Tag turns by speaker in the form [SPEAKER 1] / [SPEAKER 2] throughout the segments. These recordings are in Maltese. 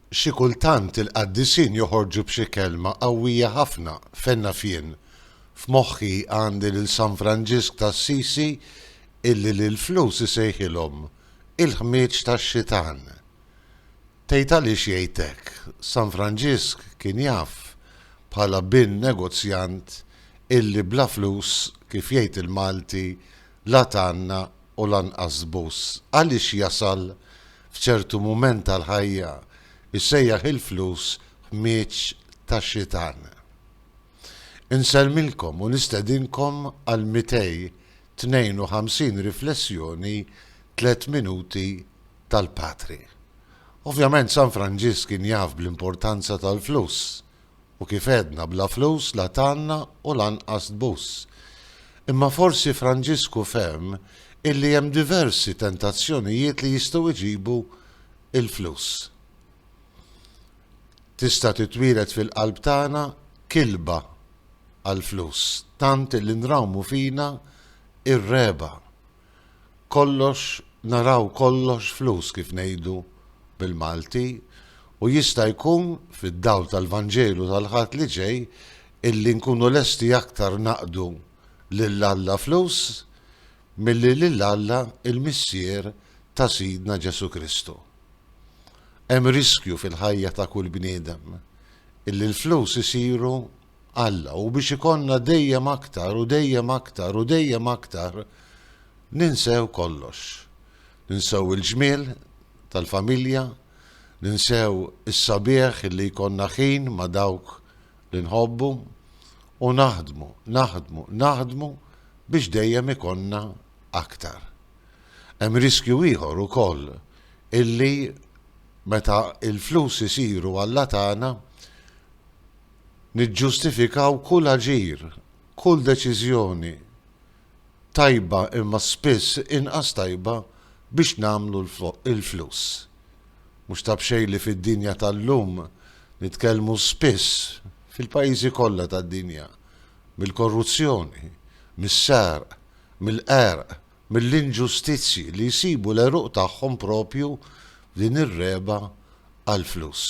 [SPEAKER 1] Xi kultant il-qaddisin joħorġu b'xi kelma qawwija ħafna, fejn naf jien. F'moħħi għandi lil San Franġisk t'Assisi illi lill-flus isejħilhom il-ħmieġ tax-xitan. Tgħid għaliex jgħid hekk, San Franġisk kien jaf bħala bin negozjant illi bla flus, kif jgħid il-Malti, la tgħanna u lanqas bus għaliex jasal f'ċertu mument tal-ħajja jsejjaħ il-flus ħmieġ tax-xitan. Insellmilkom u nistedinkom għal 252 riflessjoni tliet minuti tal-Patri. Ovvjament San Franġisk kien jaf bl-importanza tal-flus U kif għedna bla flus la tgħanna u lanqas tbus. Imma forsi Franġisku fehm illi hemm diversi tentazzjonijiet li jistgħu jġibu l-flus. Tista' titwieled fil-qalb tagħna kilba għall-flus tant illi nrawmu fina r-regħba kollox naraw kollox flus kif ngħidu bil-Malti u jista' jkun fid-dawl tal-Vanġelu tal-Ħadd li ġej illi nkunu lesti aktar naqdu lil Alla flus milli lil Alla il-Missier ta' Sidna Ġesù Kristu. Hemm riskju fil-ħajja ta' kull bniedem illi l-flus isiru Alla u biex ikollna dejjem aktar u dejjem aktar u dejjem aktar ninsew kollox. Ninsew il-ġmiel tal-familja, ninsew is-sabiħ illi jkollna ħin ma' dawk li nħobbu u naħdmu, naħdmu, naħdmu biex dejjem ikollna aktar. Hemm riskju ieħor ukoll illi meta l-flus isiru alla tagħna, Niġġustifikaw kull aġir, kull deċiżjoni, tajba imma spiss inqas tajba biex nagħmlu l-flus. Mhux ta' b'xejn li fid-dinja tal-lum nitkellmu spiss, fil-pajjiżi kollha tad-dinja, mill-korruzzjoni, mis-sarq, mill-qerq, mill-inġustizzji li jsibu l-għeruq tagħhom proprju f'din ir-regħba għall-flus.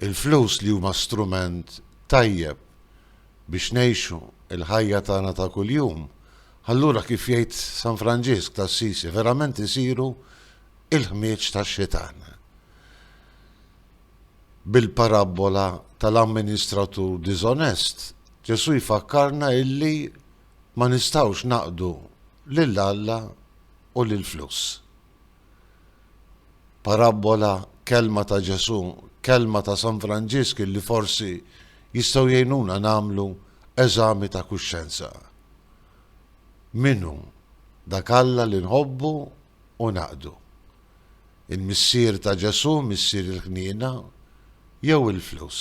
[SPEAKER 1] Il-flus li huma strument tajjeb biex ngħixu l-ħajja tagħna ta' kuljum, allura kif jgħid San Franġisk t'Assisi verament isiru l-ħmieġ tax-xitan. Bil-parabbola tal-amministratur diżonest, Ġesù jfakkarna illi Ma nistgħux naqdu lil Alla u lill-flus. Parabbola, kelma ta' Ġesù, kelma ta' San Franġisk illi forsi jistgħu jgħinuna nagħmlu eżami ta' kuxjenza. Min hu dak Alla li nħobbu u naqdu? Il-Missier ta' Ġesù, Missier il-ħniena, jew il-flus?